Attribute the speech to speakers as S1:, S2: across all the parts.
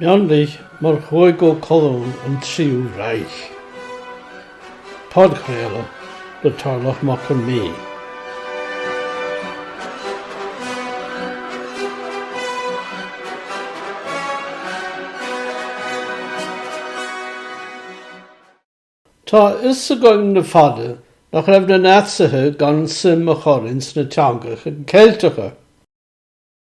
S1: Mionlaigh mar chúigiú colún an Tríú Reich. Podchraoladh le Tarlach Mac Con Midhe. Tá a fhios againn le fada nach raibh na Naitsithe gan suim a chur ins na teangacha Ceilteacha.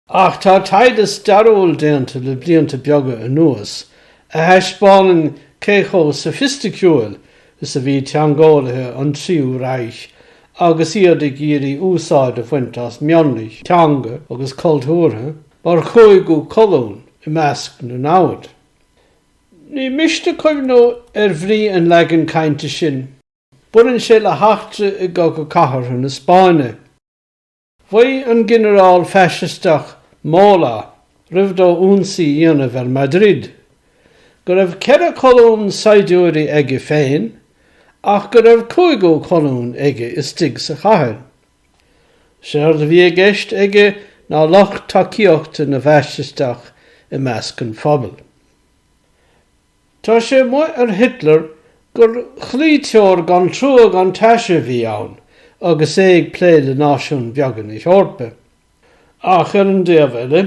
S1: Ach tá taighde stairiúil déanta le blianta beaga anuas a thaispeánann cé chomh soifisticiúil is a bhí teangeolaithe an Tríú Reich agus iad ag iarraidh úsáid a bhaint as mionlaigh teanga agus cultúrtha mar chúigiú colún i measc na namhad. Ní miste cuimhniú ar bhrí an leagain cainte sin. Baineann sé le heachtra i gCogadh Cathartha na Spáinne. Mhaígh an ginearál faisisteach Mola, roimh dó ionsaí a dhéanamh ar Madrid, go raibh ceithre cholún saighdiúirí aige féin ach go raibh cúigiú colún aige istigh sa chathair. Séard a bhí i gceist aige ná lucht tacaíochta na bhfaisisteach i measc an phobail. Tá sé amuigh ar Hitler gur chloíteoir gan trua gan taise a bhí ann agus é ag plé le náisiúin bheaga na hEorpa. Ach ar an taobh eile,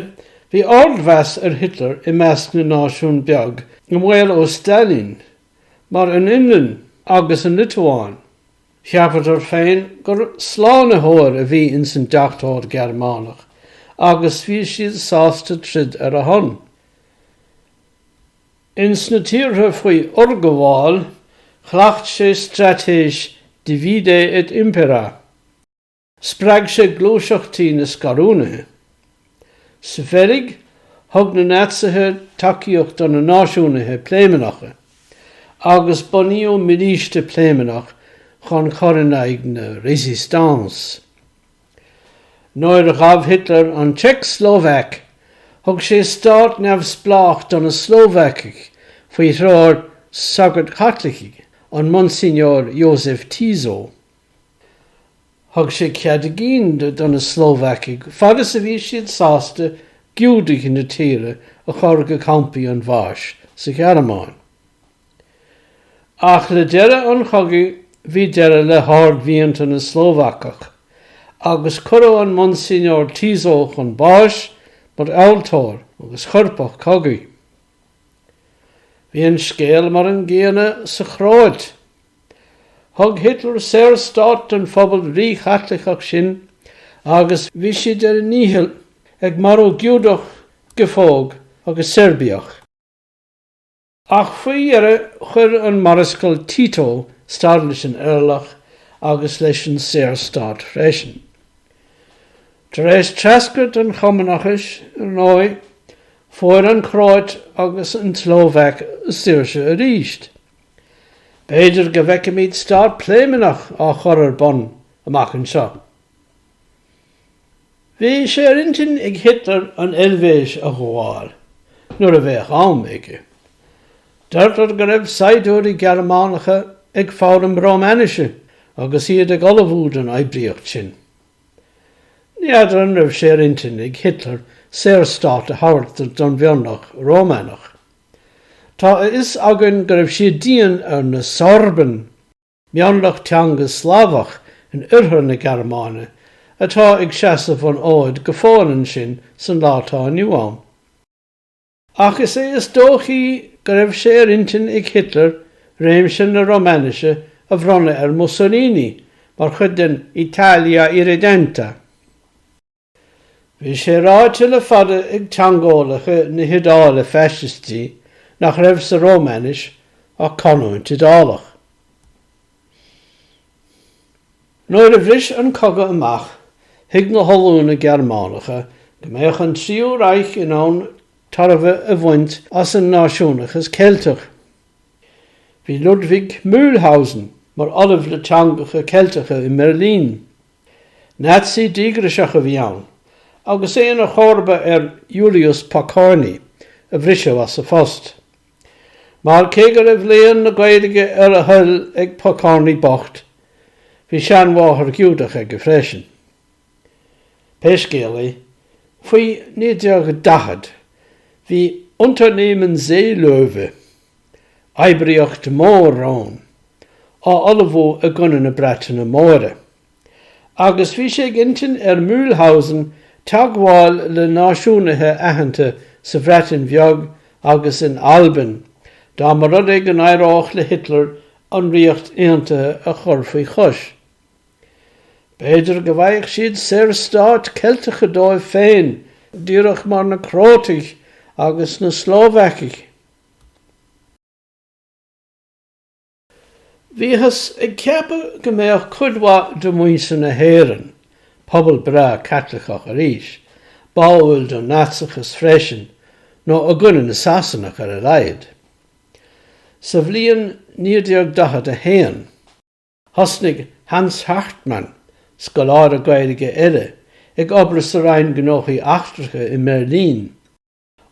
S1: bhí ardmheas ar Hitler i measc na náisiún beag i mbaol ó Stailín, mar an Fhionlainn agus an Liotuáin. Cheapadar féin gur slánaitheoir a bhí ins an deachtóir Gearmánach agus bhí siad sásta troid ar a shon. Ins na tíortha faoi fhorghabháil, chleacht sé straitéis divide et impera. Spreag sé gluaiseachtaí na scarúnaithe. Sa Bheilg, thug na Naitsithe tacaíocht do na náisiúnaithe Pléimeannacha, agus bunaíodh milíste Pléimeannach chun chur in aghaidh na résistance. Nuair a ghabh Hitler an tSeicslóvaic, thug sé stát neamhspleách do na Slóvacaigh faoi threoir sagairt Chaitlicigh, an Monsignor Josef Tiso. Thug sé cead a gcinn do na Slóvacaigh, fad is a bhí siad sásta Giúdaigh na tíre a chur go campaí an bháis sa Ghearmáin. Ach le deireadh an chogaidh bhí deireadh le hardmhianta na Slóvacach, agus cuireadh an Monsignor Tiso chun báis mar fhealltóir agus choirpeach cogaidh. Bhí an scéal mar an gcéanna sa Chróit. Thug Hitler saorstát don phobal ríChaitliceach sin agus bhí siad ar a ndícheall ag marú Giúdach, Giofóg agus Seirbiach. Ach faoi dheireadh chuir an Marascal Tito stad leis an eirleach agus leis an Saorstát freisin. Tar éis treascairt an Chumannachais, ar ndóigh, fuair an Chróit agus an tSlóvaic saoirse arís. B'fhéidir go bhfeicfimid stát Pléimeannach á chur ar bun amach anseo. Bhí sé ar intinn ag Hitler an Eilvéis a ghabháil nuair a bheadh am aige. Deirtear go raibh saighdiúirí Gearmánacha ag foghlaim Rómainise agus iad ag ullmhú don oibríocht sin. Ní fheadar an raibh sé ar intinn ag Hitler Saorstát a thabhairt don mhionlach Rómánach. Tá a fhios againn go raibh siad dian ar na Sorben! mionlach teanga Slavach in oirthear na Gearmáine atá ag seasamh an fhóid go fóill ansin san lá atá inniu ann. Ach is é is dóichí go raibh sé ar intinn ag Hitler réimse na Rómainise a bhronnadh ar Mussolini mar chuid den Italia irredenta, Bhí sé ráite le fada ag teangeolaithe na hIodáile Faisistí nach raibh sa Rómainis ach canúint Iodálach. Nuair a bhris an cogadh amach, thuig na hollúna Gearmánacha go mbeadh an Tríú Reich in ann tairbhe a bhaint as an náisiúnachas Ceilteach. Bhí Ludwig Mühlhausen mar ollamh le teangacha Ceilteacha i mBeirlín Nazi díograiseach a bhí ann, agus é ina chomharba ar Julius Pokorny, a bhriseadh as a phost. Mar cé go raibh léann na Gaeilge ar a thoil ag Pokorny bocht, bhí seanmháthair Ghiúdach aige freisin. Pé scéal é, faoi 1940, bhí Unternehmen Seelöwe, oibríocht mór-rón, á ullmhú i gcoinne na Breataine Móire, agus bhí sé ag intinn ar Mühlhausen teagmháil le náisiúnaithe aitheanta sa Bhreatain Bheag agus in Albain, dá mba rud é go n-éireodh le Hitler an Ríocht Aontaithe a chur faoi chois. B'fhéidir go bhfaigheadh siad saorstáit Cheilteacha dóibh féin, díreach mar na Crótaigh agus na Slóvacaigh. Bhíothas ag ceapadh go mbeadh cuid mhaith de mhuintir na hÉireann, pobal breá Caitliceach arís, báúil don Naitseachas freisin, nó i gcoinne na Sasanach ar a laghad. Sa bhliain 1941, thosnaigh Hans Hartmann, scoláire Gaeilge eile, ag obair sa Roinn Gnóthaí Eachtracha i mBeirlín,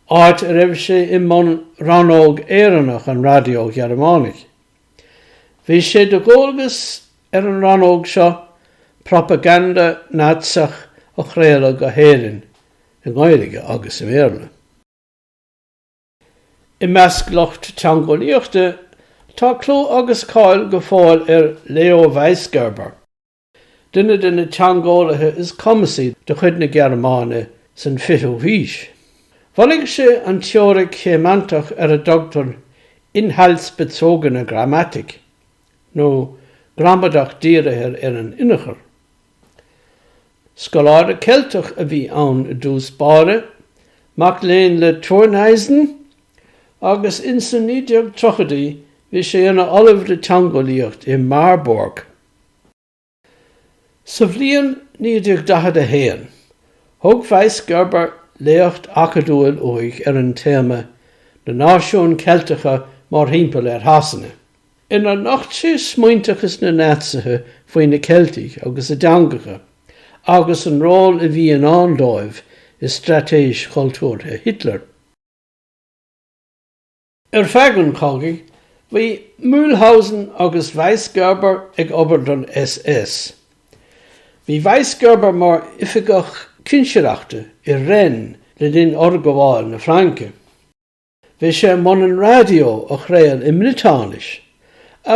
S1: áit a raibh sé i mbun rannóg Éireannach an Raidió Ghearmánaigh. Bhí sé de dhualgas ar an rannóg seo propaganda Naitseach a chraoladh go hÉirinn, i nGaeilge agus i mBéarla. I measc lucht teangeolaíochta, tá clú agus cáil go fóill ar Leo Weisgerber, duine de na teangeolaithe is cumasaí de chuid na Gearmáine san 20ú haois. Bhunaigh sé an teoiric shéimeantach ar a dtugtar inhaltsbezogene Grammatik, nó gramadach dírithe ar an inneachar. Scoláire Ceilteach a bhí ann i dtús báire, mac léinn le Thurneysen, agus ins na 1930idí bhí sé ina ollamh le teangeolaíocht i Marburg. Sa bhliain 1941, thug Weisgerber léacht acadúil uaidh ar an téama Na Náisiúin Cheilteacha Mórthimpeall ar Shasana, inar nocht sé smaointeachas na Naitsithe faoi na Ceiltigh agus a dteangacha, agus an ról a bhí i ndán dóibh i straitéis chultúrtha Hitler. Ar feadh an chogaidh, bhí Mühlhausen agus Weisgerber ag obair don SS. Bhí Weisgerber mar oifigeach cinsireachta i Rennes le linn fhorghabháil na Fraince. Bhí sé i mbun an raidió a chraol i mBriotáinis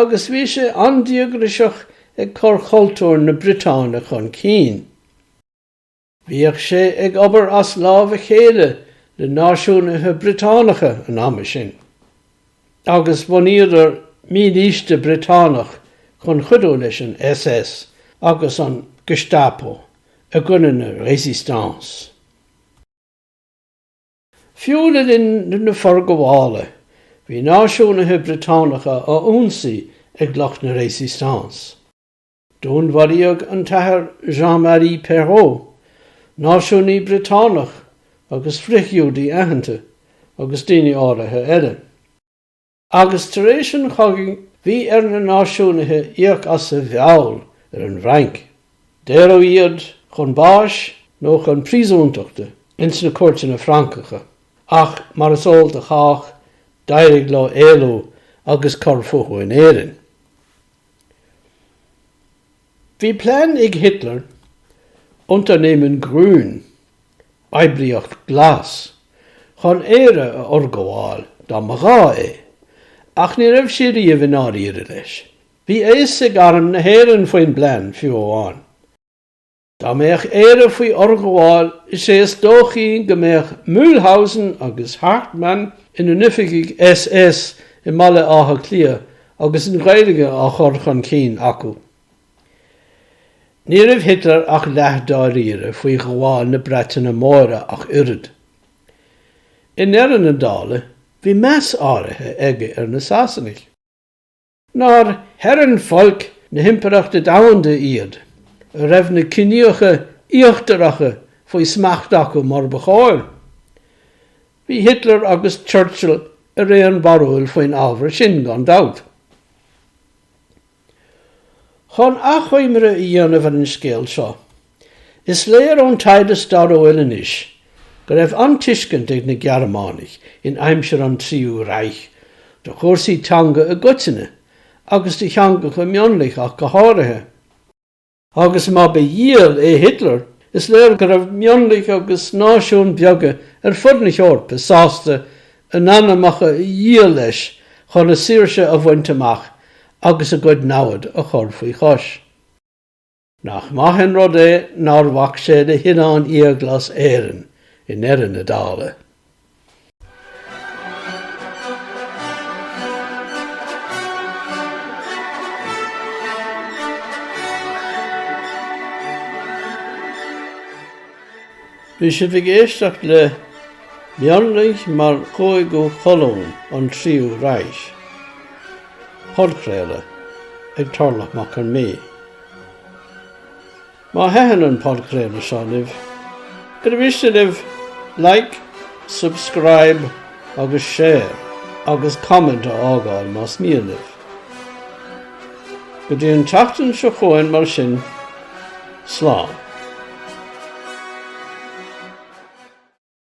S1: agus bhí sé an-díograiseach ag cur chultúr na Briotáine chun cinn. Bhíodh sé ag obair as lámh a chéile le náisiúnaithe Briotánacha an ama sin, agus bhunaíodar mílíste Briotánach chun cuidiú leis an SS agus an Gestapo i gcoinne na Résistance. Fiú le linn na forghabhála, bhí náisiúnaithe Briotánacha á ionsaí ag lucht na Résistance. Dúnmharaíodh an tAthair Jean Marie Perrot, náisiúnaí Briotánach agus frithghiúdaí aitheanta, agus daoine áirithe eile. Agus tar éis an chogaidh bhí ar na náisiúnaithe íoc as a bhfeall ar an bhFrainc. Daoradh iad chun báis nó chun príosúntachta ins na cúirteanna Francacha, ach mar is eol do chách d'éirigh leo éalú agus cur fúthu in Éirinn. Bhí plean ag Hitler, Unternehmen Grün, Oibríocht Ghlas, chun Éire a fhorghabháil dá mba ghá é, ach ní raibh sé riamh i ndáiríre leis. Bhí a fhios ag Arm na hÉireann faoin bplean, fiú amháin. Dá mbeadh Éire faoi fhorghabháil, is é is dóichí go mbeadh Mühlhausen agus Hartmann ina n-oifigigh SS i mBaile Átha Cliath agus an Ghaeilge á chur chun cinn acu. Ní raibh Hitler ach leathdháiríre faoi ghabháil na Breataine Móire ach oiread. I ndeireadh na dála, bhí meas áirithe aige ar na Sasanaigh. nár Herrenvolk na hImpireachta Domhanda iad, a raibh na ciníocha íochtaracha faoi smacht acu mar ba chóir. Bhí Hitler agus Churchill ar aon bharúil faoin ábhar sin, gan dabht. Chun achoimre a dhéanamh ar an scéal seo, Is léir ón taighde stairiúil anois go raibh an-tuiscint ag na Gearmánaigh in aimsir an Tríú Reich do chúrsaí teanga i gcoitinne agus do theangacha mionlaigh ach go háirithe, agus má ba dhiabhal é Hitler, is léir go raibh mionlaigh agus náisiúin bheaga ar fud na hEorpa sásta a n-anamacha a dhíol leis chun a saoirse a bhaint amach agus a gcuid namhad a chur faoi chois. Nach maith an rud é nár bhac sé le hoileán iathghlas Éireann i ndeireadh na dála? Bhí sibh ag éisteacht le Mionlaigh mar Chúigiú Colún, An Tríú Reich, Podchraoladh ag Tarlach Mac Con Mí. Má thaitin an podchraoladh seo libh, ar mhiste libh Like, Subscribe agus Share agus Comment a fhágáil más mian libh? Go dtí an tseachtain seo chugainn mar sin, slán!